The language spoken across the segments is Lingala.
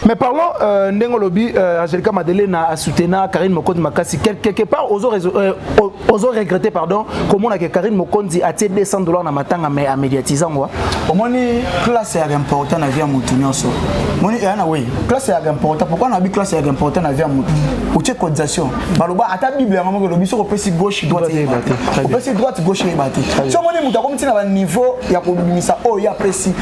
mais parlons euh, ndenge olobi euh, angelica madelena asutena karine mokonzi makasi quelque part ozo, euh, ozo regrette pardon komona ke karine mokonzi atie 200 dollars na matanga mais amédiatise yango omoni classe yaka important na vie ya motu nyonso moni eyana wei classe yaka important pourkui nabi classe yaka important na vie ya motu otie cotisation baloba ata bible yango moko elobi soki opesi gauche droite eyeba te opesi droite gauche eyeba te so omoni moto akomi ntina baniveau ya kobimisa oyo ye apesi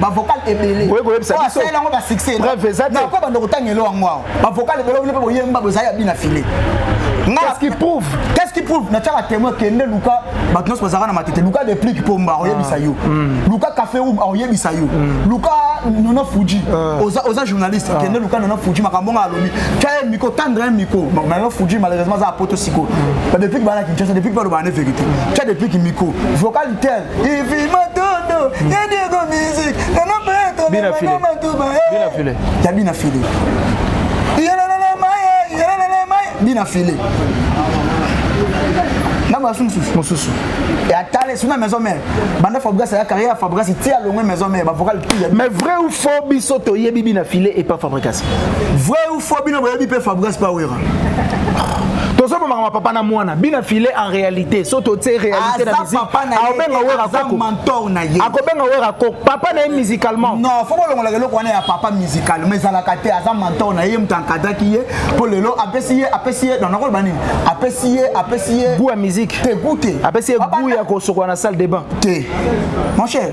ba vocal ebele oye koyebisa biso asala yango ba succès preuve eza te nako bando kotanga elo yango awa ba vocal ebele oyo pe boyemba bozali ya bina filet qu'est-ce qui prouve qu'est-ce qui prouve na tchaka témoin kende luka bato nyonso bazalaka na matete luka deplique pomba oyebisa yo ah. mm. luka café room oyebisa yo mm. luka nona fuji ah. oza oza journaliste ah. kende luka nona fuji makambo nga alobi tya miko tendre un miko nona fuji malheureusement aza apoto siko mm. ba deplique bana kinshasa deplique baloba ne vérité tya deplique miko vocal tel Ifi matondo, ya Diego music, na na peto, na na matuba, eh. Bina file. Ya bina file. Yelelele maye, yelelele maye, bina file. na basi mosusu mosusu atale suna maison mère banda fabrigas aya carrière ya fabrigas ti alongwe maison mère bavocal pile mais vrai ou faux biso toyebi bina file epa fabrigas vrai ou fo bino boyebi mpe fabgas pawera tozobomaka mapapa na mwana bina file en réalité so totie réalité na musiqueakobenga wera mentor na ye akobenga wera kok papa na ye musicalement non fo bolongolaka eloko wana ya papa musical mais ezalaka te aza mentor na ye moto ankadaki ye mpo lelo apesi ye apesi ye nakoloba nini apesi ye apesi ye goût ya musique te goût te apesi ye goût ya kosokola na salle de bain te mon cher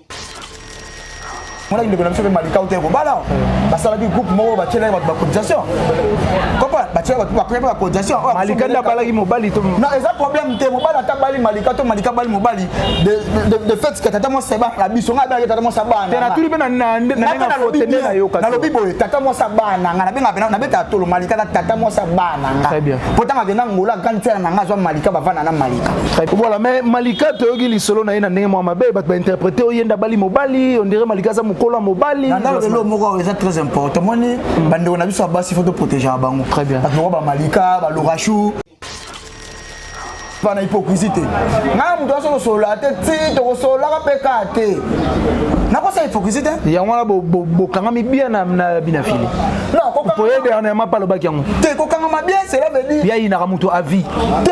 monaki ndeko na biso mpe malika uta ekobala basalaki groupe moko batyelaki bato bacotisation kopa batyelaki bato bakoyaki bacotisation oh, malika nde abalaki mobali to non eza problème te mobali ata bali malika to malika bali mobali de fait ke tata mwasi abana biso ngai abengaki tata mwasi abananatuli mpe nalobi boye tata mwasi abana ngai nabenga pena nabetaka tolo malika na tata mwasi abana ngai mpo ntango akenda ngola grande sere na ngai azwa malika bavanda na malika Voilà, mais Malika toyoki lisolo na ye na ndenge mwa mabe bato bainterprete oyo yenda bali mobali ondire Malika aza mokolo ya mobali nandalo lelo moko oyo eza très important moni hmm. bandeko na biso ya basi fo toprotegeaka bango bato moko bamalika balorachou na hypocrisie te ngai moto aso kosolola te ti tokosololaka mpe kaa te nakosa hypocrisie te yango wana bokangami bien na binafili poye dernièrement mpe alobaki yango te kokangama bien cela veut dire yayinaka moto avis te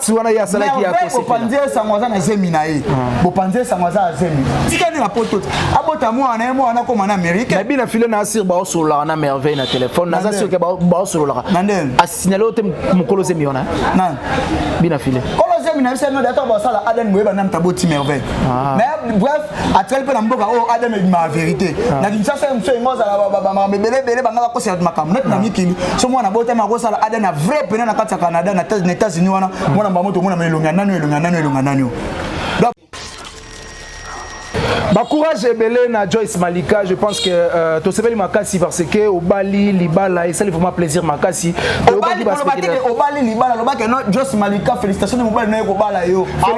si wana ye asalaki ya bopanzi esango aza na zemi na ye ah. bopanzi esango aza ya zemi tikani na poto te abota mwana na ye mwana akoma na amerike nabi na file na asir baosololaka na merveille na telefone naza soki baosololaka asignale oyo te mokolo zemi wana bina file kolo zemi na biso yango data basala aden boyeba na mtaboti merveille ah. mais bref atikali mpe na mboka oyo oh, ademe ebimaka verité ah. na kinshasa ye mosu engo azala bamakambo ebele ebele banga bakosela makambo neti na ah. mikili so mwana abotami akosala ademe ya vrai pena na kati ya canada na états-unis wana hmm. mwana mbamo tomonama elongi ya nani elongi ya nani elongi ya nani bacourage ebele na joyce malika je pense que euh, tosepeli makasi parce que obali libala esali vraiment plaisir makasi obali libala lobaki no joyce malika félicitation de mobali naye kobala yo ah,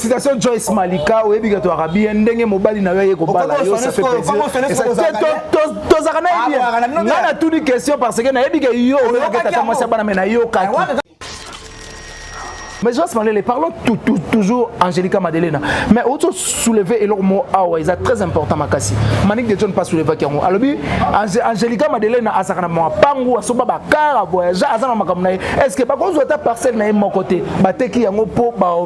Félicitations Joyce Malika oyebi ke toyaka bien ndenge mobali na yo aye kobala yo ça fait plaisirtozaka na ye bien nga natuni question parce que nayebi ke yo oyokaki ata mwasi ya bana me nayokaki mais joas malele parlons tout, tout, toujours angélica madelena mais ozo soulever eloko mo awa eza très important makasi manik de john pas soulevaki yango alobi angélica madelena azalaka na mapangu asomba bakara voyage aza na makambo na ye est ce que bakozwa ata parcelle na ye moko te bateki yango mpo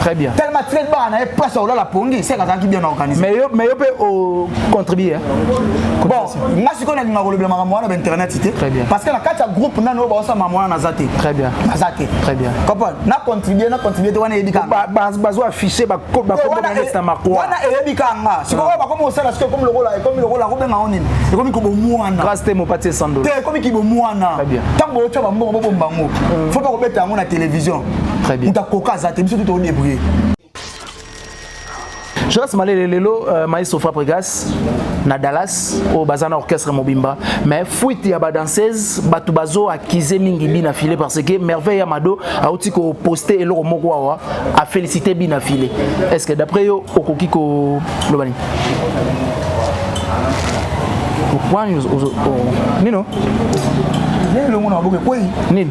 Très bien. Tellement très bas, on avait pas sur la pongi, c'est quand qui bien organisé. Mais yo, mais yo peut au contribuer. Bon, moi si on a dit ma le maman moi internet c'était. Très bien. Parce que la carte groupe n'a no ba ça maman na zaté. Très bien. Na zaté. Très bien. Comprends? Na contribuer, na contribuer toi na yebika. Ba ba ba zo afficher ba ko ba ko na liste na marquois. Wana yebika nga. Si ko ba comme ça parce que comme le rôle comme le rôle ko benga on nini. Et comme ko bo muana. Grâce te mo patie sando. Te comme ki bo muana. Très bien. Tant bo cho ba mbo bo bango. Faut pas ko beta yango na télévision. très bien uta koka aza te biso tu to débrouiller Jonas Malele lelo euh, maestro Fabregas na Dallas au bazana orchestre mobimba mais fuite ya ba danseuse batu bazo accuser mingi bina filé parce que merveille Amado a aussi ko poster eloko moko awa a féliciter bina filé est-ce que d'après yo okoki ko lobani point nino nini elongo na baboke kwei nini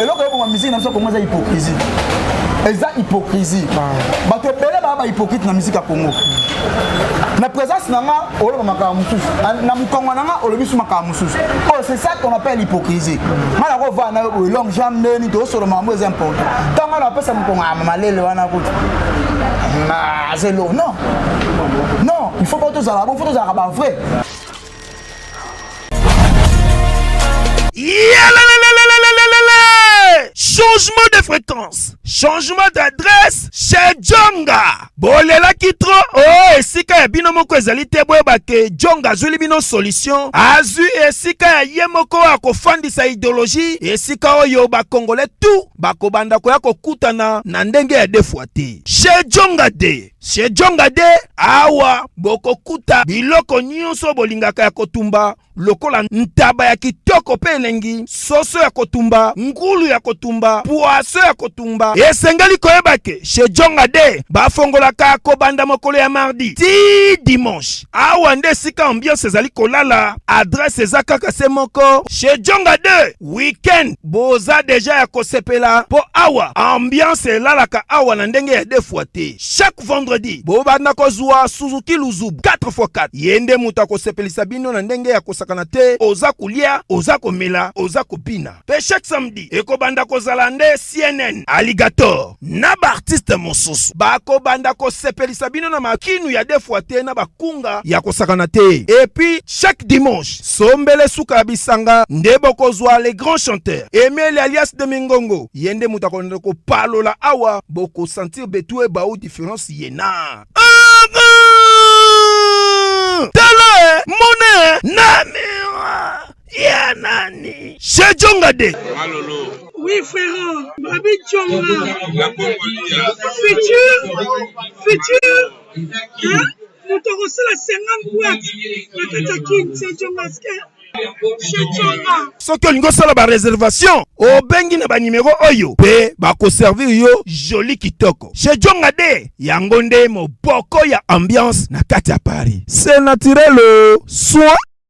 eloko eboma musique na biso kongo eza hypocrisie eza hypocrisie bato ebele baa bahypocrite na musique ya kongo na présence na nga oloba makambo mosusu na mokongo na nga olobi su makambo mosusu oyo c'est ça qu'on appelle hypocrisie nga na kovaa na yo boye longue jambe ndeni toosolo makambo eza important ntango nga na bapesa mokongo ya malele wana kutu azelo non non il faut pas tozala bon faut tozalaka ba vrai changement de fréquence changement d'adresse chez jonga bolelaki tro o oh, esika ya bino moko ezali te boyeba ke jonga azwili bino solution azwi esika ya ye moko ya kofandisa ideologie esika oyo bakongole tu bakobanda koya kokutana na ndenge ya defwa te chez jonga de Sejonga de awa bokokuta biloko nyonso bolingaka ya kotumba lokola ntaba ya kitoko mpe elengi, soso ya kotumba, ngulu ya kotumba, pwaso ya kotumba. Esengeli koyeba ke Sejonga de bafongolaka kobanda mokolo ya mardi ti dimanche. Awa nde esika ambiance ezali kolala, adresse eza kaka se moko Sejonga de. weekend boza deja ya kosepela mpo awa ambiance elalaka awa na ndenge ya defua te chaque vendredi bobanda kozwa suzuki luzubu 4x4 ye nde moto akosepelisa bino na ndenge ya kosakana te oza kolia oza komela oza kobina mpe chaque samedi ekobanda kozala nde cnn alligator na ba artiste mosusu bakobanda kosepelisa bino na makinu ya defwa te na bakunga ya kosakana te epuis chaque dimanche sombele suka ya bisanga nde bokozwa le grand chanteur emeli alias de mingongo ye nde moto akolanda kopalola awa bokosentir betue bao difference yena tala mona na mira ya nani sejonga de Oui, frérot, Babi Tchonga, futur, futur, hein? moto akosala 50 boite na kati ya kin sejongaske soki olingi osala bareservation obengi na banimero oyo mpe bakoservir yo joli kitoko shejonga de yango nde moboko ya ambiance na kati ya paris se naturel soin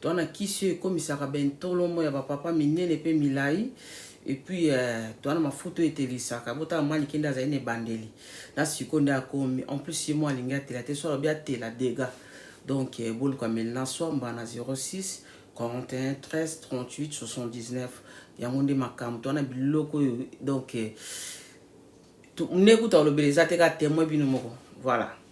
To na kisi oyo ekomisaka ba intolomo ya ba papa minene pe milayi et puis euh, toana mafuta oyo etelisaka botala mwa likende azali na ebandeli na siko nde akomi en plus ye mwa alingi atela te so alobi atela dega donc euh, boluka melina swamba na 06 41 13 38 79 yango nde makambo toana biloko oyo donc euh, nde kuta olobela eza te ka temoin bino moko voilà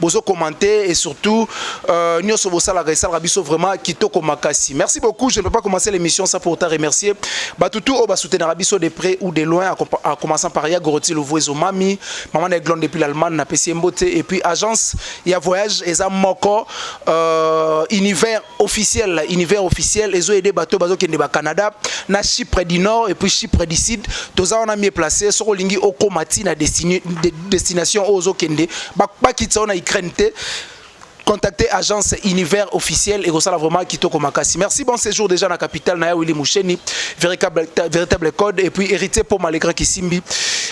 bozo commenter et surtout euh, nioso bosalaka esalaka biso vraiment kitoko makasi merci beaucoup je ne peux pas commencer l'émission sans pour ta remercier batutu oyo basoutenaka biso de près ou de loin en commençant par ya goroti lovuezo mami maman na eglonde depuis l'allemagne na pesi mbote et puis agence ya voyage eza moko euh, univers officiel la univers officiel ezo aider bato bazo kende ba Canada na Chypre du Nord et puis Chypre du Sud toza wana mieux placé soko lingi okoma ti na destine de, destination ozo kende ba ba kitsa na Ukraine te contacter agence univers officiel et ça vraiment kitoko makasi merci bon séjour déjà na capitale na ya Willy Moucheni véritable véritable code et puis héritier pour malgré Kisimbi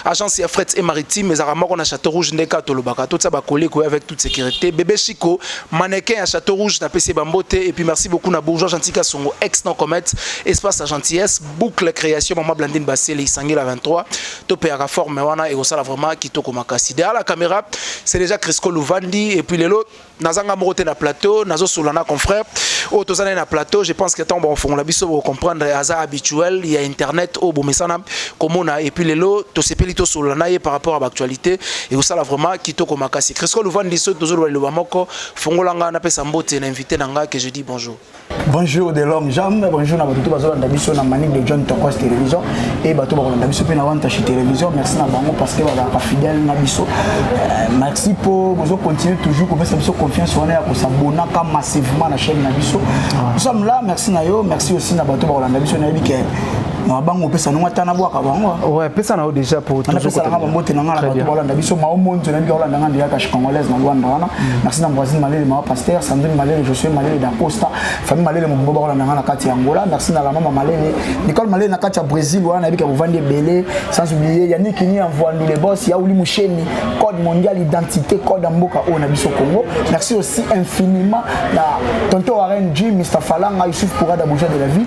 agence ya fret et maritime ezaka moko na château rouge ndeka tolobaka to tsa ba collègues avec toute sécurité bébé Chico Mannequin ya Chateau Rouge na PC Bambote et puis merci beaucoup na bourgeois gentil Kasongo ex non comète espace la gentillesse boucle création maman Blandine Bassele isangi la 23 to payaka forme wana et osala vraiment kitoko makasi derrière la caméra c'est déjà Crisco Louvandi et puis lelo nazanga moko te na plateau nazo solana confrère au oh, tozana na plateau je pense que tant bon fongola biso vous comprendre aza habituel il y a internet au oh, bomesana komona et puis lelo tosepeli tosolola na ye par rapport à l'actualité ekosala vraiment kitoko makasi crisco luvandi soki tozoloba liloba moko fongola ngai napesa mbote na invité na ngai que je dis bonjour bonjour de l'homme jam bonjour na bato to bazolanda biso na manique de john tokos télévision e bato bakolanda biso mpe na wantashi télévision merci na bango parce que bazalaka fidèle na biso euh, merci mpo bozo continue toujours kopesa biso confiance wana ya kosabonaka massivement na chaîne na biso ah. nous sommes là merci na yo merci aussi na bato bakolanda biso nayebi ke mwa bango opesa nongo ata nabwaka bango ouais pesa na yo déjà po tozopesa nanga bambote na nga na bato balanda biso mao monzo nayebi kaolanda nga ndeya kashi congolaise na luanda wana mm. merci na voisine malele mama pasteur sandrine malele josue malele dacosta famille malele mobimba bakolanda nga na kati ya angola merci na la mama malele nicole malele na kati ya brésil wana nayebi kabovandi ebele sans oublier yannick ni envoandu le boss yauli musheni code mondial identité code ya mboka oyo na biso congo merci aussi infiniment na tonton warren jim mr falanga yusuf pourada bouja de la vie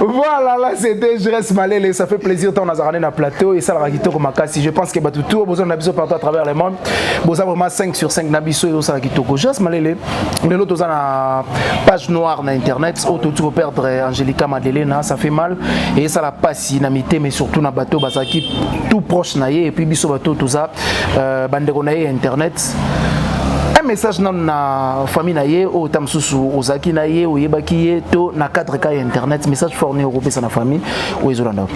Voilà, là c'était Je reste malele, ça fait plaisir tant nazarane na plateau et ça la kitoko makasi. Je pense que bah tout tour besoin d'abiso partout à travers le monde. Boza vraiment 5 sur 5 nabiso et ça la kitoko. Je reste malele. Mais l'autre dans la page noire na internet, auto tu perdre Angelica Madelena, ça fait mal et ça la passe na mité mais surtout na bateau bazaki tout proche na et puis biso bateau tout ça euh, bande na internet un message nanu na famille na ye oyo ta mosusu ozalaki na ye oyebaki ye to na cadre ka ya internet message fort nini okopesa na famille oyo ezolanda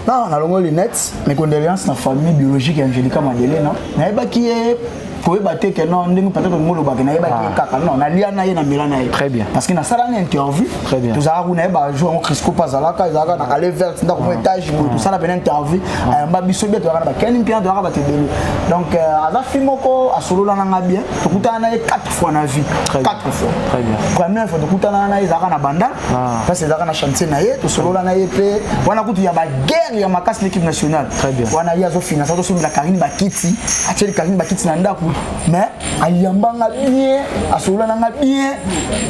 non nalongo lunette mes condoléances na famille biologique ya angelica madelena nayebaki ye koyeba te ke non ndenge peut-être ngolobaki nayebaki ye ah. kaka non nalia na ye na mela na ye très bien parce que nasala na interview Très bien. tozalaka kuna ye bajour yango crisco mpe azalaka ezalaka na ale verte ndako mwa étage boye tosala pena interview ayamba biso bie tozalaka na bakeni mpe tozalaka bato ebele donc euh, aza fi moko asolola na nga bien tokutana na ye 4 fois na vie Très bien. 4 fois Très bien. première fois tokutana na ye ezalaka na banda Ah. parce ezalaka na chantier na ye tosolola na ye mpe wana kutu ya baguerre ya makasi l'équipe nationale Très bien. wana ye azofinansa tosombela karine bakiti atieli karine bakiti na ndako mais ayamba nga bien asolola na nga bien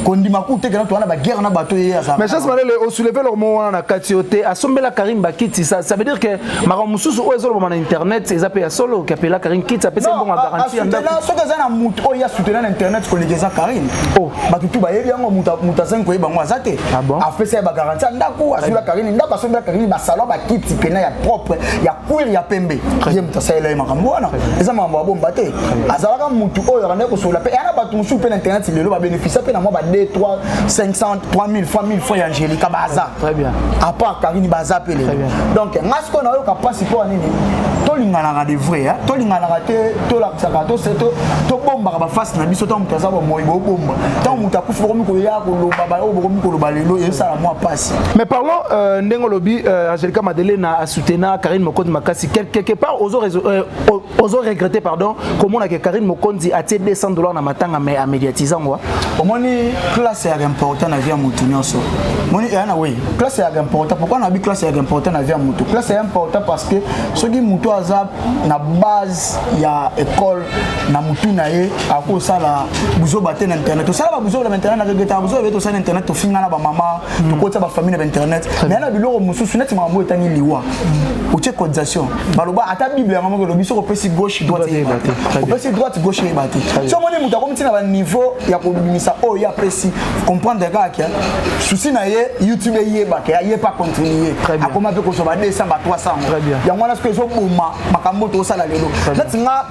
kondima kutekena toa na baguerre na bato ye aza mais chance malele osouleve eloko moko wana na kati yo te asombela karine bakiti ça, ça veut dire que makambo mosusu oyo ezolobama na internet eza mpe ya solo kapela karine kiti apesi mbongo ya garanti ya ndako soki eza na moto oyo ya soutena na internet koleka eza karine oh. bato tu bayebi yango moto azangi koyeba yango aza te ah apesa ye bagaranti ya ndako asola karine ndako asombela karine basalo bakiti pena ya propre ya cuire ya pembe ye moto asalela ye makambo wana eza makambo ya bomba te azalaka mutu oyo abandaki kosolola mpe yana bato mosusu mpe na internet lelo babénéficia mpe na mwa ba 2 3 500 3000 fois 1000 fois ya angélika baza apart karini baza mpe lelo donc nga sikoyo nayoka mpasi mpo ya nini tolinganaka de vrai tolinganaka te tolakisaka tobombaka bafasi na biso ntango moto aza bomoi bobomba ntango moto akufi bokomi koya koloba baoyo bokomi koloba lelo ezosala mwa mpasi mais parlon euh, ndenge olobi euh, angélika madelena asutena karine mokoti makasi quelque part ozo euh, ozo regretter pardon komona ke Karine Mokonzi atie 200 dollars na matanga mais a médiatiser yango hein. omoni classe ya important na vie ya mutu nyonso moni yana eh, we classe ya important pourquoi na bi classe ya important na vie ya mutu classe ya important parce que soki mutu aza na base ya école na mutu na ye akosala buzoba te na internet tosala ba buzoba na internet na regretter buzoba be tosala na internet tofingana ba mama mm. tokotia bafamille na bainternet mais na biloko mosusu neti makambo etani liwa mm. otie cotisation baloba ata bible yango moko elobi soki opesi gauche droite eyeba te opesi droite gauche eyeba te so omoni moto akomi ntina baniveau ya kobimisa oyo ye apesi comprendre kaka ke susi na ye youtube eyeba ke aye pa continue akoma mpe kozwa ba 200 ba 300 yango wana soki ezoboma makambo tosala lelo neti nga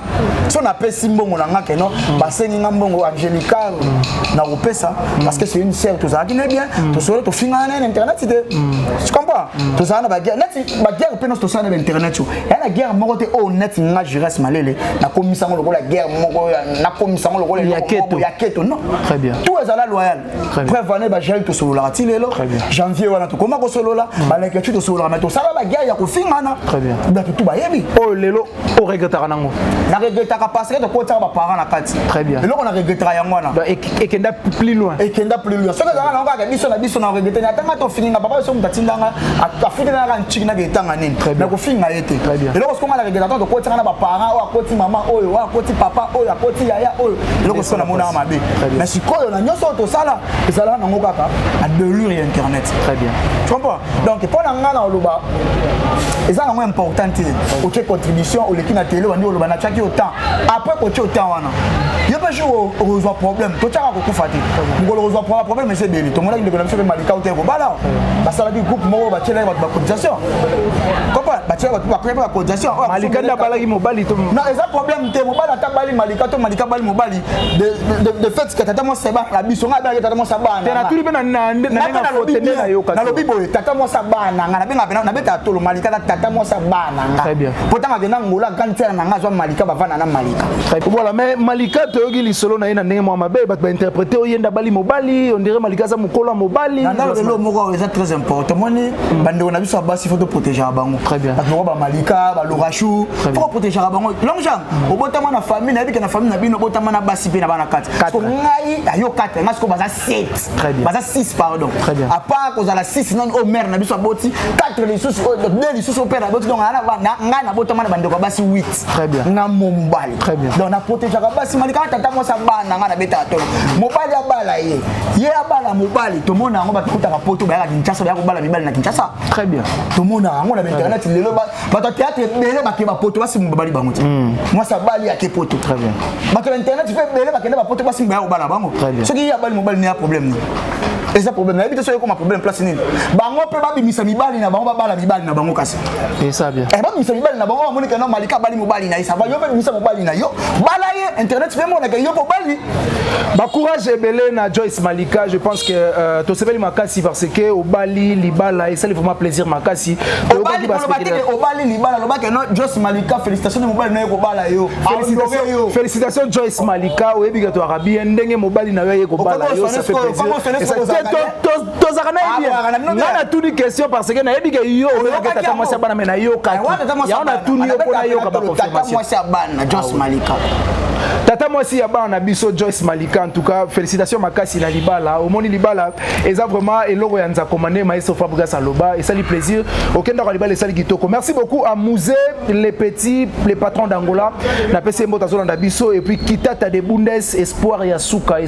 so napesi mbongo na nga keno mm. basengi nga mbongo angelica mm. na kopesa mm. parce que c'est une sœur tozalaki ne bien tosolo tofingana na internet te tu comprends tozala na baguerre neti baguerre mpe nyonso tosala na bainternet yo ya na guerre moko te oyo oh, neti nga jures malele nakomisa yango lokola guerre moko nakomisa yango lokola ya keto non très bien tout ezala loyal preuve ane bajari tosololaka ti lelo janvier wana tokoma kosolola balekeci tosololaka me tosala baguerre ya kofingana bato tu bayebi oyo oh, lelo o regrettaka nango na regrettaka parce que tokotisaka baparent na kati très bien eloko na regrettaka yango wana ekenda plus loin ekenda plus loin soki ezalaka nango kaka biso na biso na regrette na atanga tofinga papa biso moto atindanga afutela naka ntiki na etanga nini na kofinga ye te eloko soki nga na regrettaka tokotisaka na baparent oyo akoti mama oyo oyo akoti papa oyo akoti yaya oyo eloko soki namonaka mabe mais sikoyo na nyonso oyo tosala ezalaka nango kaka na delure ya internet très bien tu comprends donc mpo na ngai na oloba eza nango important te otie contribution oleki na tele obandi oloba natiaki yo temps après kotie yo temps wana yo mpe jour okozwa problème totyaka kokufa te mokolo okozwa problème eza ebele tomonaki ndeko na biso mpe malika uta ekobala basalaki groupe moko batyelaki bato bacotisation kopa batyelaki bato bakoyaki bacotisation malika nde abalaki mobali to eza problème te mobali ata bali malika to malika bali mobali de, de, de fait que tata mwasi abana na biso ngai abengaki tata mwasi abana te natuli mpe nalobi boye tata mwasi abana ngai nabenga mpe nabetaka tolo malika na tata mwasi abana ngai mpo ntango akenda ngola grande sere na ngai azwa malika bavanda na malika voilà mais malika toyoki lisolo na ye na ndenge mwa mabe bato bainterprete oyo yenda bali mobali ondire malika aza mokolo ya mobali nandalobelo moko oyo eza très important moni hmm. bandeko na biso ya basi fo toprotegeaka bango bato moko bamalika balorachou fo koprotegeaka bango longjang obotama na famille nayebi ke na famille na bino obotama na basi mpe na bana kati so ngai ayo kati ngai sikoyo baza 7 baza 6 pardon apart kozala 6 nani oyo mare na biso aboti 4 lisusu oyo oh, de lisusu oyo pere aboti donc ngai nabotama na bandeko ya basi 8 na mobali donc na protegeaka basi mali kaka tata mwasi abana ngai nabetaka tolo mobali abala ye ye abala mobali tomona yango bakikutaka poto bayaka kinshasa bayaka kobala mibali na kinshasa tomona yango na bainternet lelo bato ya théâtre ebele bakende bapoto basimba babali bango te hmm. mwasi abali ake poto bato ya internet mpe ebele bakende bapoto basimba ya kobala bango soki ye abali mobali ne ya problème nini eza problème nayebi te soki ekoma problème place nini bango mpe babimisa mibali na bango babala mibali na bango kasi eh, babimisa mibali na bango bamonike no malika abali mobali na ye sava yo mpe bimisa mobali na yo bala ye internet mpe emonaka yo mpe obali Ba courage ebele na Joyce Malika, je pense que euh, tosepeli makasi parce que obali libala esali vraiment plaisir makasi. Obali koloba te obali libala loba que non Joyce Malika félicitations de mobali nayo kobala yo. Félicitations félicitations Joyce Malika oyebi que to arabi ndenge mobali nayo ye kobala yo ça fait plaisir. tozalaka nayebi ah, nga natuni question parce que nayebi ke yo oyokaki tata mwasi ya bana me nayokaki eh, yango natuni yo mpo nayoka baconfirmation mwasi ya bana jos ah malika tata mwasi ya bana na biso joyce malika en tout cas félicitation makasi na libala omoni libala eza vraiment eloko ya nzakoma nde maestro fabrigas aloba esali plaisir okendaka libala esali kitoko merci beaucoup à musée le petit le patron d'angola napesi ye mbote azolanda biso et puis kitata de bundes espoir ya suka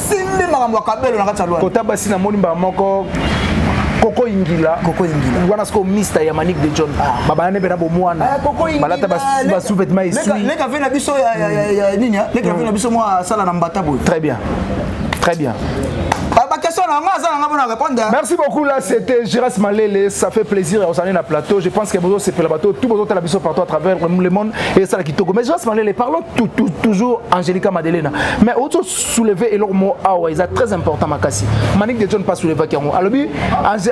simbi makambo ya kabelo na kati ya lwanda kota basi namoni mbala moko koko ingila koko ingila wana siko mister ya manik de john ah. babana nebe na bomwana ah, koko ingila balata ba sous vêtements ici leka leka vena biso ya ya ya nini ya leka vena biso mwa sala na mbata boy très bien très bien Merci beaucoup là c'était Giras Malele ça fait plaisir aux années na plateau je pense que bozo sepela bato tout bozo tala biso partout à travers le monde et ça la kitoko mais Giras Malele parlons tout, tout, toujours Angelica Madelena mais autre soulever eloko moko awa eza très important makasi manik de john mpe asoulevaki yango alobi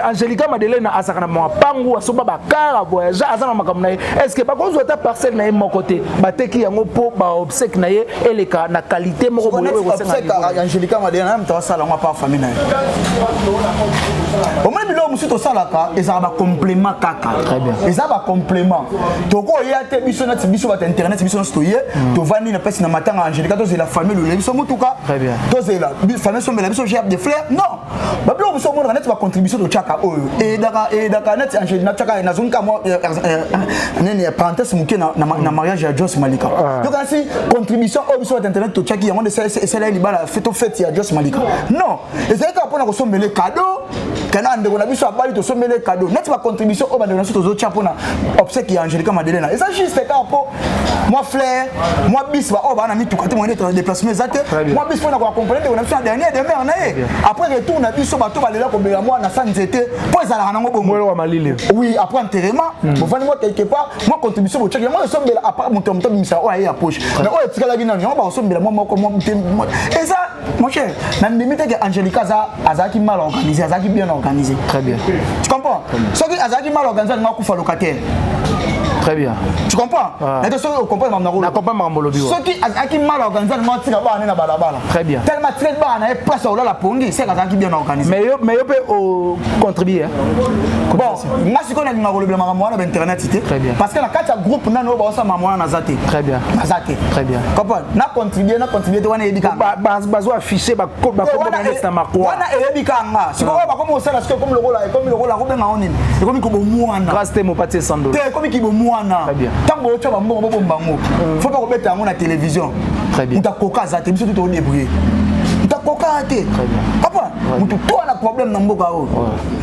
angelica madeleine azalaka na mapangu asoba bakar avoyage aza na makambo na ye est ce que bakozwa ata parcelle na ye moko te bateki yango mpo baobsèque na ye eleka na qualité moko boyeangelica madeleine na moto asala yango apa famille na ye omoni biloko mosusu tosalaka ezalaka bacomplément kaka eza bacomplément tokoya te biso nati biso bato internet biso nyonso toye hmm. tovandi na place na matanga angelica tozela famille lolele biso motuka tozela famille sombela biso gerbe de fleur non babiloko biso omonaka neti bacontribution totyaka oyo eyedaka eyedaka neti angeli natyaka nazongi ka mwa eh, eh, eh, nini parenthèse moke na mariage ya jos malika ah. yoka nasi contribution oyo biso bato internet totyaki yango nde esala ye libala to fete ya jos malika non ezalaki kaka mpo na kosombele cadeau kana ndeko na biso abali tosombele cadeau neti bacontribution oyo bandeko na biso tozotya mpona obsèque ya angelica madelena eza juste kaka mpo mwa flair mwa bis baoyo baa na mituka te moyene tona déplacement eza te mwa bis mpo na koaccompagne ndeko na biso na dernier demeure na ye après retour na biso bato balela kobela mwa na sa nzete mpo ezalaka nango bongo oui après enterrement hmm. bovandi mwa quelque part mwa contribution botyaki yango esombela apart moto ya moto abimisaka oyo aye ya poche mais oyo etikalaki nano yango bakosombela mwa moko eza Mon cher, na ndimi te que Angelica aza azalaki mal organisé, azalaki bien organisé. Très bien. Tu comprends? Soki azalaki mal organisé, alinga kufa locataire. Très bien. Tu comprends? Ah. Mais soki okomprendre mambo nako. Nakomprendre mambo lobi. Soki azalaki mal organisé, alinga tika bana na balabala. Très bien. Tellement très bana na place olala pongi, c'est azalaki bien organisé. Mais yo mais yo pe au contribuer. Bon, nga sikoyo nalinga kolobela makambo wana ba internet te parce que na kati ya groupe nano oyo baosala makambo wana naza te naza te comprendre na contribue na contribue te wana eyebi kanga bazo affiche bakombo na makwa wana eyebi kanga sikoyo oyo bakomi kosala sikoyo ekomi lokola ekomi lokola kobenga ngo nini ekomi kobomwana grâce te mopati esando te ekomi kibomwana ntango bootya bambongo bobomba ngo mm. fo bakobeta yango na télévision moto akoka aza te biso tu todebrouille moto akoka te papa moto to wana problème na mboka oyo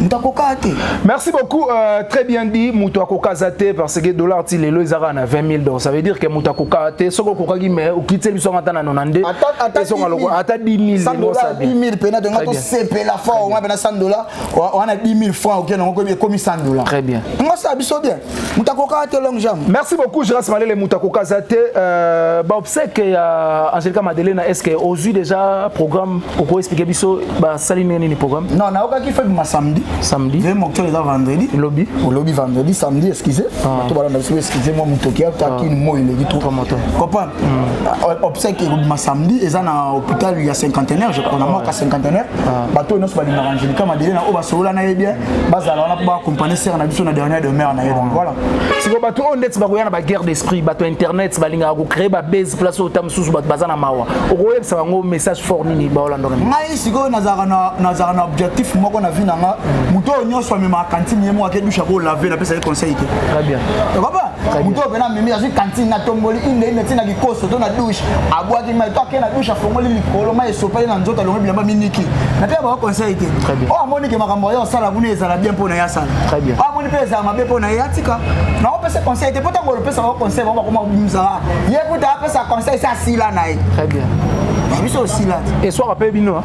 moto akokaa te merci beaucoup euh, très bien dit moto akokaza te parce que dollar ti lelo ezaka na 20 000 donc ça veut dire que moto akokaa te soki okokaki mais okiteli biso ata na 92 ezonga loko ata 10 000 mpena tonga tosepela fort wana mpena 100 dollar wana 10 000 franc oke nango ekomi 100 dollar très bien ngosala biso bien mutakoka te long jam merci beaucoup Geras Malele mutakoka za te euh, ba obsèque ya Angelica Madelena est-ce que ozui déjà programme oko expliquer biso ba sali nini ni programme non na okaki fait ma samedi samedi ve mokto eza vendredi lobby au lobby vendredi samedi excusez ah. to bala na biso excusez moi mutoki ya ta ah. kin moi le gitu promoteur comprendre hmm. euh, obsèque ya ma samedi eza na hôpital ya cinquantenaire je crois na ah. moi ka cinquantenaire bato nyonso balingaka Angelica Madelena oyo basolola na ye bien bazala wana mpo baakompagne sere na biso na dernier demeure na ye donc voilà siko bato oyo ndeti bakoya na baguerre d'esprit bato ya internet balingaka kocree babase place oyo ta mosusu bato baza na mawa okoyebisa bango message fort nini baolandoka ngai sikoyo nazalaka na objectif moko na vie na nga moto oyo nyonso amemaka kantine ye moko ake dushe akolave napesa ye conseil te très bien moto oyo mpena amemi azwi kantine na tomboli inde inde ntina likoso to na dushe abwaki mai to akei na dushe afongoli likolo mai esopeli na nzoto alongoli bilamba miniki na mpe abaka conseil te oyo amoni ke makambo ayo asala kuna ezala bien mpo na ye asala oyo amoni mpe ezala mabe mpo na ye atika na opesa conseil te mpo ntango olopesa bango conseil bango bakoma kobimisa ye kuta apesa conseil se asila na ye biso osila te eswaka mpe bino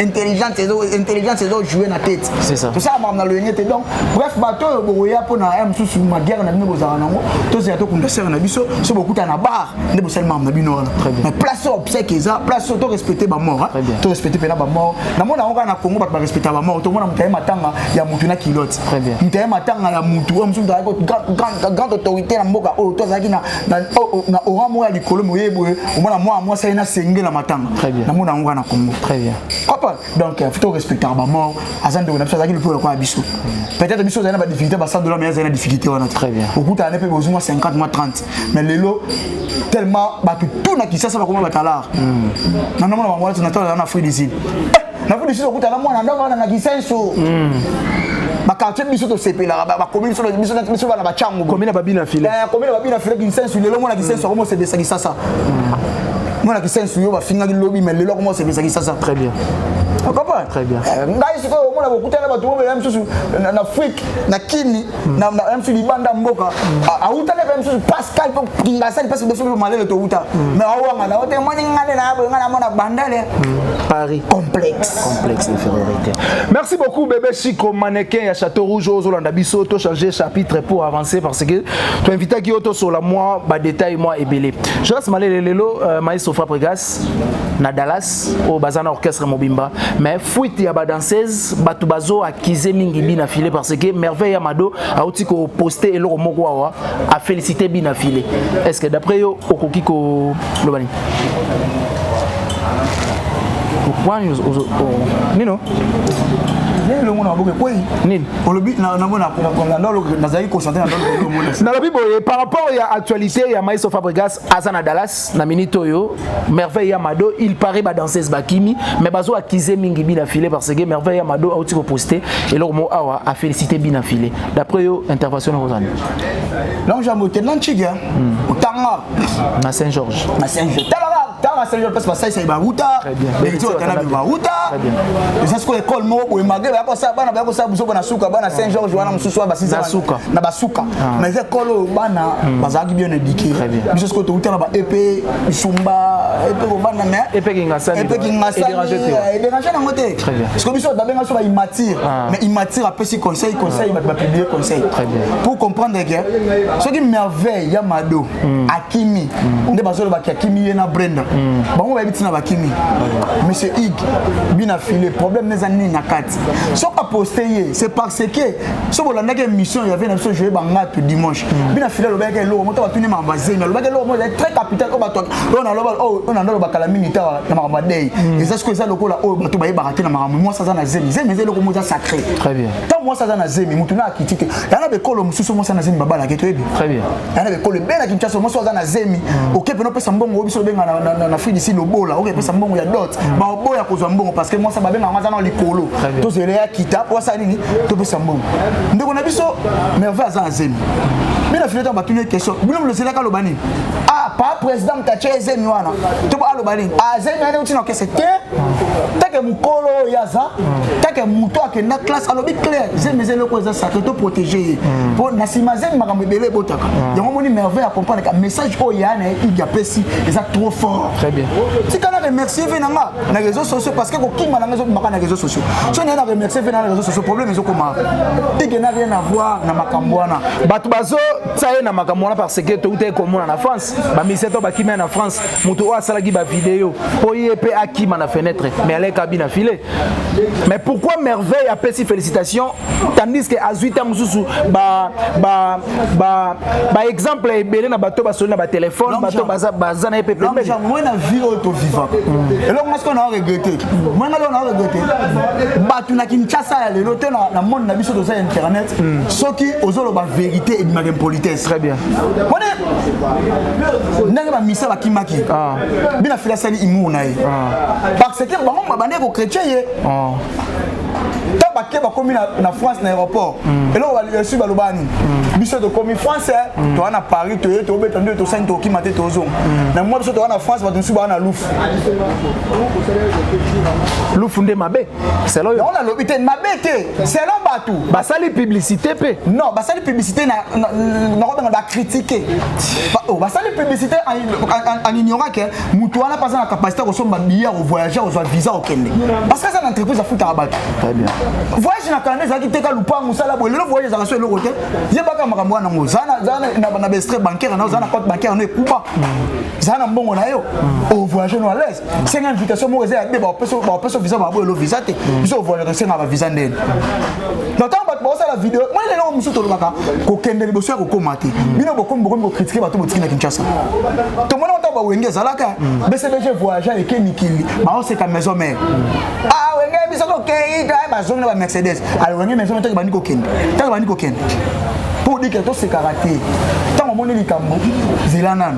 intelligence ezo intelligence ezo jouer na tete c'est ça tosala makambo na loyenge te donc bref bato oyo bokoya mpo na ya mosusu mabiere na bino bozala nango tozela tokunda sere na biso so bokuta na bar nde bosali makambo na bino wana mais place oyo obsèque eza place oyo torespecte bamort torespecte mpena bamort namona yango kaka na congo bato barespecta bamort tomona moto aye matanga ya motu na kilote moto aye matanga ya motu oyo mosusu azalaki grand autorité na mboka oyo to azalaki na na oh, oh, na ora moya likolo moye boye omona mwa mwasi aye nasengela matanga namona yango na congo opa donc euh, fito respectaka bamort aza ndeko na biso azalaki lokola lokola biso peut-être biso ozali na badifficulté basal dola mai azali na difficulté wana te okutana ne mpe bozwi mwa 50 mwa 30 mais lelo tellement bato tout na kisasa bakoma batalare hmm. nanamona bango wana tonatala na afrique du sud na vous lisusu okuta na mwana ndako wana na kisenso bakartier biso tosepelaka bakomi biso biso na biso bana bachangu komi na babina file eh, komi na babina file kisenso lelo mwana kisenso akomi osepelisa kisasa mwana kisenso yo bafingaki lobi me lelo akomi osepelisa kisasa très bien okopa très bien eh, ngai sikoyo omona bokutana bato bobela misusu na afrique na kini na na msu libanda mboka awutaki mpe msusu pascal mpo kingasani mpasi biso mpe malele towuta me awanga na ote moni ngane na boye ngai namona bandele paris complexe complexe d'infériorité merci beaucoup bebe chico mannequin ya château rouge oyo ozolanda biso to changer chapitre pour avancer parce que toinvitaki yo tosola mwa badetail mwa ebele jonas malele lelo euh, maestro fabrigas na dallas oyo baza na orchestre mobimba mais fuite ya badanseuse bato bazo kize mingi bina file parce que merveille ya mado auti koposte eloko moko awa afélicité bina file est ce que d'après yo okoki koloba nini wani nino elongo na maboke kwei nini olobi nazali kochante nalobi boye par rapport ya actualité ya maestro fabrigas aza na Dallas na minute oyo Merveille ya Mado il paraît ba danseuse bakimi mais bazo accuser mingi bina filé parce que Merveille ya Mado auti ko poster et leur mot awa a félicité bina filé d'après yo intervention na kozana donc jambo te nan chiga hmm. tanga na Saint Georges na Saint Georges tala tala Saint Georges parce que ça ça ba ruta beti oyo tana bima uta eza sikoyo ekole moko boye mage baya kosala bana baya kosala buzoba na suka bana saint george wana mosusu wana basisa na basuka ah. mais eza ekole oyo bana hmm. bazalaki bien éduqué biso sikoyo touta na ba epe isumba epe kobanda mais epe kingasani epe kingasani ederange eh, nango te sikoyo biso babenga so ba immature ah. mais immature apesi conseil conseil ah. bato bapiblie conseil pour comprendre ke soki merveille ya mado mm. akimi mm. nde bazoloba ki akimi ye na brenda mm. bango bayebi ntina bakimi mm. monsieur ig bina file problème neza nini na kati soki aposte ye c'est parce que soki bolandaki émission yave na biso joye bangatu dimanche mm. bina file alobaki eloko moto batuni makambo azemi alobaki eloko moko ezali très capital oyo bato oyo naloba oyo nanda aloba kala mingi ta na makambo adei mm. eza sikoyo eza lokola oyo bato bayebaka te na makambo mwasi aza na zemi zemi eza eloko moko eza sacré ntango mwasi aza na zemi motu na akiti te yanga bekolo mosusu mwasi aza na zemi babalaki toyebi ana bekolo ebele na kinshasa omosi aza na zemi mm. oke pena opesa mbongo obiso obenga na afrique disi lobola oke epesa mbongo ya dot mm. baoboya kozwa mbongo parce que mwasi babenga yango aza na likolo tozela ya kita po asala nini topesa mbongo ndeko na biso merveille aza na zemi bino afini ntango batuni ye question bino bilozelaka aloba nini ah pa président moto atye ezemi wana to aloba nini azemi ah, ane uti na okese te take mokolo oyo ye aza take moto akenda classe alobi claire zemi eza eloko eza sacre to protege ye mpo na nsima zemi makambo ebele ebotaka yango omoni merveille akomprendreka message oyo ya na ye idi apesi eza trop fort tika na remercie ve na nga na réseau sociaux parce que kokima na nga ezobimaka na réseau sociaux so naye na remercie ve na na réseau sociaux problème ezokoma ike na rien avoir na makambo wana bato bazotia ye na makambo wana parce que toutaki komona na france bamisien to bakimia na france moto oyo asalaki bavideo mpo ye mpe akima na fenêtre mais alekabi na file mais pourquoi merveille apesi félicitation tandis que azwi ntango mosusu baexemple ebele na bato basoli na batelefone bato baza na ye mpe pembeniamoi na vie oyo tovivaka mm. eloko ngai sikoyo na regrete moi ngai loko na regrete bato na kinshasa ya lelo te na monde na biso toza internet mm. soki ozoloba verité ebimaka impolitesse très bien ndenge bamisa bakimaki ah. bina fila asali imur na ye ah. parce que bango babandaki kokretien ye ah. ta bake bakomi na france na aéroport hmm. eloko balesi balobani hmm. biso tokomi france hmm. toa na paris toye tobeta nde tosani tokima te tozonga na mwa biso toa na france bato mosusu baa na lufu lufu nde mabe selon yo nalobi te mabe te selon bato basali publicité mpe non basali publicité nakobenga bacritique oh, basali publicité en ignorant ke moto wana mpe aza na capacité ya kosomba biye ya kovoyage kozwa visa okende parce que aza na entreprise afutaka bato voyage na canada ezalaki teka lupango osala boye lelo voyage ezalaka so eloko te yebaka makambo wana yango zaa na baestre bancaire na yo zaa na compte bancaire na yo ekuba zaa na mbongo na yo ovoyage no alaise senga invitation moko eza ya be bapesa visa baboye lo visa te mm. biso ovoyaka tosenga bavisa ndeni na ntango bato baosala video moi lelo oyo mosusu tolobaka kokende liboso ya kokoma te mm. bino bokomi bokomi kokritike bato botiki na kinshasa tomona ntango bawenge ezalaka mm. bcbg voyagea eke mikili baoseka maison mare ah, wenge biso tokei bazongi na bamercedes ale wenge maison mare ntango ebandi kokende ntango ebandi kokende mpo odikela tosekaka te ntango omoni likambo zela nano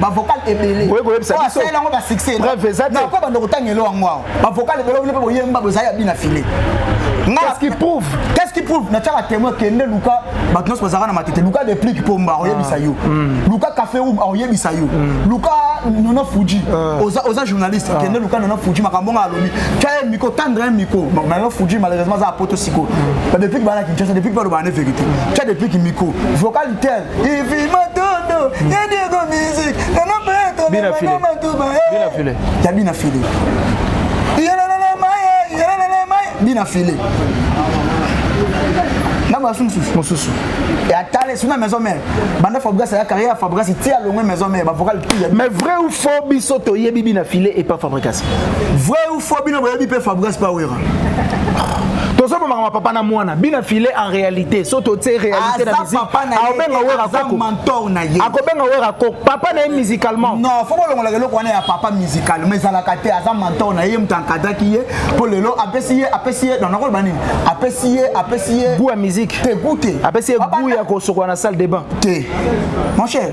ba vocal ebele oye koyebisa biso asala yango ba succès preuve eza te nako bando kotanga elo yango awa ba vocal ebele oyo pe boyemba bozali ya bina filet qu'est-ce qui prouve qu'est-ce qui prouve na tshaka témoin kende luka bato nyonso bazalaka na matete luka deplique pomba oyebisa yo ah. hmm. luka café room oyebisa yo hmm. luka nona fuji ah. oza oza journaliste ah. kende luka nona fuji makambo nga alobi tya ye miko tendre ye miko nona fuji malheureusement aza apoto siko hmm. ba deplique bana kinshasa deplique balobana ne vérité tya deplique miko vocal tel Ifi matondo, ya Diego music, na na peto, na na matuba, eh. Bina file. Ya bina file. Yelelele maye, yelelele maye, bina file. na basi mosusu mosusu atale suna maison mère banda fabrigas aya carrière ya fabrigas ti alongwe maison mère bavocal pia mais vrai ou faux biso toyebi bina file epa fabrigas vrai ou fo bino boyebi mpe fabras pawera tozobomaka mapapa na mwana bina file en réalité so totie réalité na musique akobenga wera koko mentor na ye akobenga wera koko papa na ye musicalement non faut bolongolaka eloko wana ya papa musical mais ezalaka te aza mentor na ye moto ankadaki ye mpo lelo apesi ye apesi ye nakoloba nini apesi ye apesi ye goût ya musique te goût te apesi ye goût ya kosokola na salle de bain te mon cher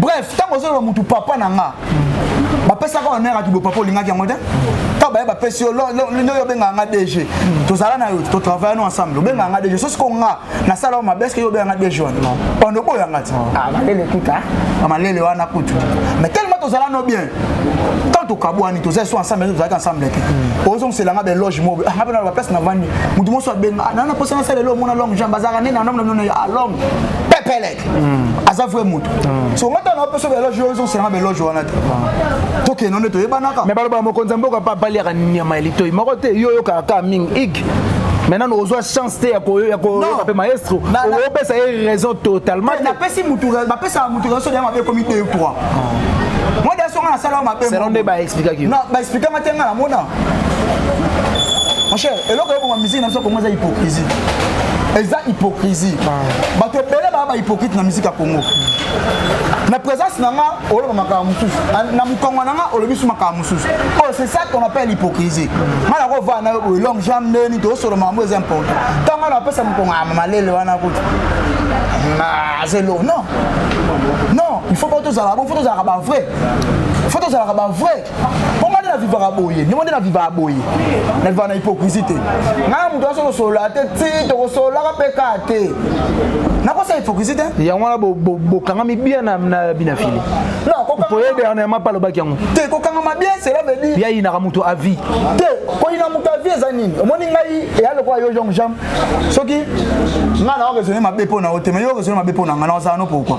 bref ntango ozoloba motu papa na nga bapesaka honneur ya kibopapa olingaki yango te ntango baye bapesi yo nde yo obengaka nga dg tozala na yo totravaille no ensemble obengaka nga dg sosi ko nga nasala yo mabe eske yo obengaka nga dg wana pando oboyo yanga te ah, malele kuta ah, malele wana kutu mais tellement tozala no bien ntango tokabwani tozali so ensemble tozalaki ensemble te hmm. ozongisela nga beloge mobe ah, nga mpe na baplace navandi motu moso abenga nana mposa nasala elo omona long jambe azalaka nene anamnanona ya long pepele hmm. aza vrai moto hmm. so nga tana opeso beloge oyo ezosenga beloge wana te hmm. tokende nde toyebanaka me balobaka mokonzi ya mboka mpe abaliaka nyama ya litoi moko te yo oyokaka kaka mingi ig maintenant ozwa chance te ya koyoka mpe maestro opesa ye raison totalement napesi motu bapesaka motu raison ya mabe ekomi 2 3 moi daso nga nasala mabe selon nde baexplikaki baexplikanga te nga namona mon cher eloko eboma musique na biso kongo eza hypocrisie eza hypocrisie bato ebele baa bahypocrite na musique ya congo na présence na nga oloba makambo mosusu na mokongo na nga olobi su makambo mosusu oyo c'est ça qu'on appelle hypocrisie nga na kovaa na yo boye long jam ndeni toosolo makambo eza important ntango nga napesa mokongo ama malele wana kutu azelo non non il faut po tozala bon fo tozalaka bavrai fo tozalaka bavrai mpo ngai nde navivaka boye ndimo nde navivaka boye navivaka na hypocrisie te ngai na moto aso kosolola te ti tokosololaka mpe ka te nakosa hypocrisie te yango wana bokangami bia na binafili poye dernièrement mpe alobaki yango te kokangama bien cela veut dire ya yinaka moto avi te koyina moto avi eza nini omoni ngai eya lokola yo jong jam soki ngai na oresone mabe mpo na yo te ma yo oresone mabe mpo na ngai na ozala no pourkoi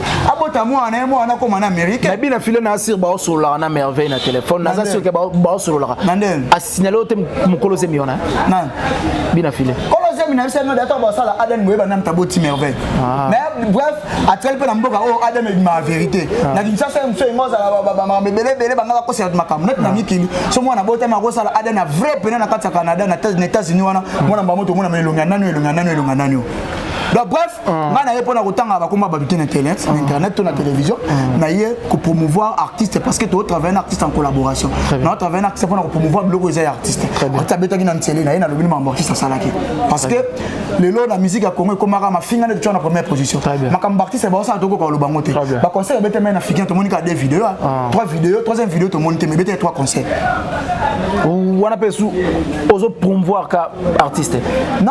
abota mwana na ye mwana nakoma na amérike nayebi na file na asir baosololaka na merveille na telefone naza sur ke baosololaka asignale oyo te mokolo zemi wana bina file problème na biso yango data basala aden boyeba nani taboti merveille ah. mais bref atikali mpe na mboka oyo oh, aden ebimaka vérité ah. na kinshasa ye mosu engo azala bamakambo ebele ebele banga bakosela makambo neti na ah. mikili so mwana botama akosala aden ya vrai pene na kati ya canada na états-unis wana mwana mbamo tomona elongi ya nani elongi ya nani elongi ya nani donc bref Ah. nga na ye mpona kotangaka bakoma bato te na internet na ah. internet to na ah. télévision na ye kopromouvoir artiste parce que totravaille na artiste en collaboration na otravaille na artiste mpona kopromouvoir biloko eza ya artiste ati abetaki na nsele na ye nalobi ni makambo artiste asalaki parce que lelo na musique ya congo ekomaka mafinga nde totyaka na première position makambo artiste baosala tokoka koloba yango te baconcert ebete mai na fikin tomoni kaka deux video trois video troisième video tomoni te mais ebete ya trois concert wana mpe su ozopromouvoir ka artiste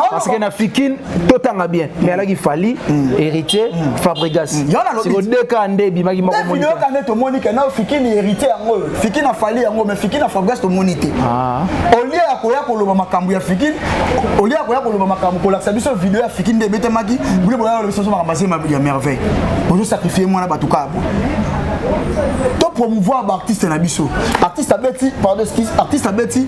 parce que na fikin totanga bien mais alaki fali mm. héritier mm. fabrigas mm. siko deka nde ebimaki mokoyoka nde tomoni ke nao fiki ni héritier yango oyo fiki na fali yango mais fiki na fabrigas tomoni te ah. olie ya koya koloba makambo ya fiki olie ya koya koloba makambo kolakisa biso video ya fiki nde ebetemaki bule boyaka lobiso so makambo asema ya merveille ozosakrifie mwana bato kaka boye to promouvoir baartiste na biso artiste abeti pardon excuse artiste abeti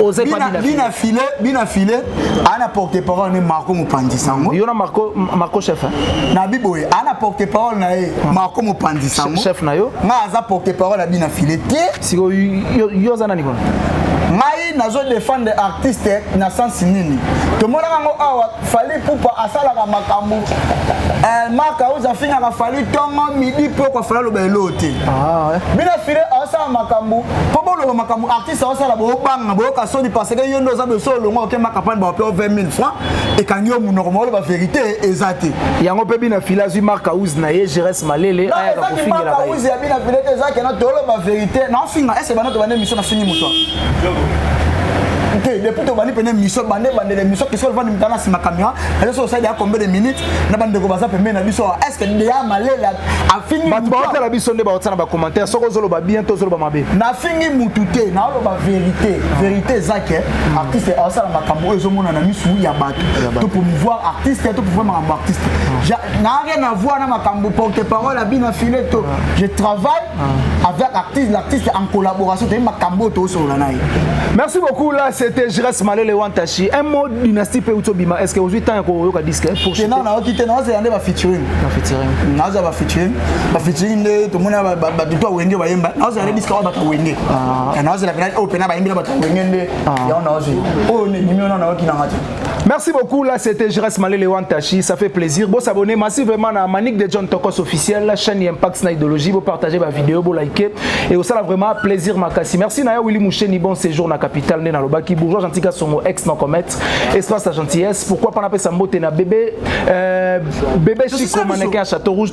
oze pas bina bina filet bina filet ana porte parole ne Marco Mopandi sango yo na Marco Marco chef hein? na biboye ana porte parole na ye ah. Marco Mopandi sango chef na yo nga aza porte parole bina filet te siko yo yo za nani kono ngai nazo defendre artiste na sensi nini tomonaka yango awa fali pupa asalaka makambo eh, mark aus afingaka fali ntongo midi mpo okofala loba eloo te ah, bino file aosala makambo mpo boloba makambo esa osala bobanga boyoka soni parce que yo nde oza dosi olongwa oke makapani baope 20 000 francs ekangi yo monoko maoloba verité eza te yango mpe bina fila azwi mark house na ye gérès malele ayaka kofingela house ya bina fila te ezaki na toloba verité na ofinga ese bana tobanda émission na fingi moto te depuis tobandi mpena émission bande ebandela émission kisolo vandi mitana nsima camera azo so osali ya combien de minutes na bandeko baza pembeni na biso est ce que deya malele afingi bato baotala biso nde baotala na bacommentaire soki ozoloba bien to ozoloba mabe nafingi mutu te naoloba verité verité eza ke hmm. artiste aosala makambo oyo ezomona na misu ya bato to promouvoir artiste to promouvoir makambo artiste hmm. na rien avoir na makambo porte parole abina fileto hmm. je travaille Ah. Avec l'artiste, l'artiste en collaboration, tu as makambo to sur la naï. Merci beaucoup là, c'était Jires Malele Wantashi. Un mot dynastie pe utobima. Est-ce que aujourd'hui temps ko yoka disque pour chanter? Non, non, kité non, c'est yande ba featuring. Ba featuring. Non, ça ba featuring. Ba featuring de tout monde ba ba tout toi wenge ba yemba. Non, c'est yande disque ba ta wenge. Ah. Non, c'est la grande open ba yemba ba ta wenge nde. Ah. Ya on a aussi. Oh, ni mi on a na ki na ngati. Merci beaucoup, là c'était Jres Malele Wantashi, ça fait plaisir. Bon s'abonner massivement à Manik de John Tokos officiel, la chaîne Impact na idéologie, vous partagez ma vidéo, vous likez et vous ça vraiment plaisir makasi. Merci Naya Willy Moucheni, bon séjour na capitale né na Lobaki, bourgeois gentil Kasongo ex non commet, espace la gentillesse, pourquoi pas na pesa mbote na bébé euh, bébé Chico mannequin à Château Rouge,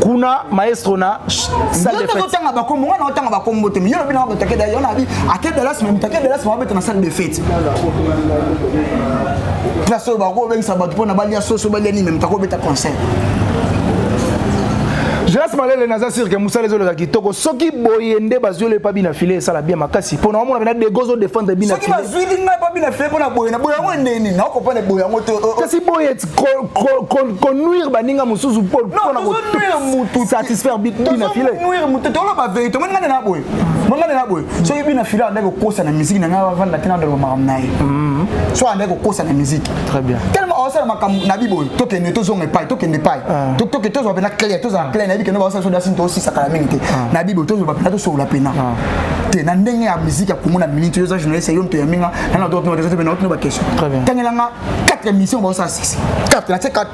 kuna maestro na salle de fête tozotanga bakombo wana otanga bakombo te miyo lobi na bato akeda yo nabi akeda las meme takeda las mwa beta na salle de fête place oyo bakobengisa bato mpo na balia soso balia nini meme takobeta concert Jonas Malele naza sûr que musala ezo leka kitoko soki boye nde bazwi le pabi na filet esala bien makasi pona omona bena dego zo défendre bina soki bazwi linga pabi na filet pona boye na boye yango neni na comprendre boye yango te oh, oh. kasi boye konuire baninga mosusu mpo na kosatisfaire bina file toloba verité omoni ngai na boye omoni ngai na boye soki bina file andaki kokosa na miziki na ngai avanda te nadoloba makambo na ye mm-hmm. so andaki kokosa na miziki très bien tellement osala makambo na biboye tokende tozonga epai tokende epai ah. toke tozwa mpena clair tozala ah. clair nayebi kende baosala so dasini tosisakala mingi te ah. na biboye tozwa mpena tosolola mpena te na ndenge ya miziki ya komona miniti oza journaliste yo moto ya minga nana otokotomatezote mpe na otino baquestion tangelanga 4 émissions ba ça 6 4 na 4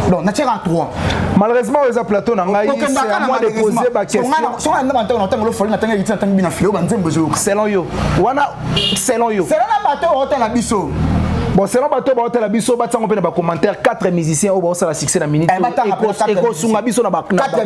donc na tcheka 3 malheureusement oza plateau na ngai c'est à moi de poser ba question son na ba tango na tango lo foli na tango yiti na tango bina filo ba nzembo zo selon yo wana selon yo selon na bato hôtel na biso bon selon bato baotala biso batiango mpe na bacommentaire 4 musicien oyo baosala succès na minute eh, ekosunga biso na bacommentaire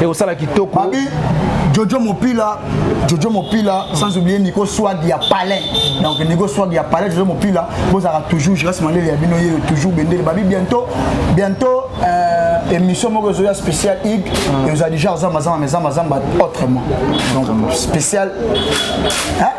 ekosala kitoko Babi, jojo mopila jojo mopila sans oublier nico swag ya palais donc nico swag ya palais jojo mopila bozalaka toujours je reste malele ya bino yeyo toujours bendele babi bientôt bientôt euh, émission moko ezoya spécial ig eoza déjà ozambazamba mezambazamba autrement donc spécial hein?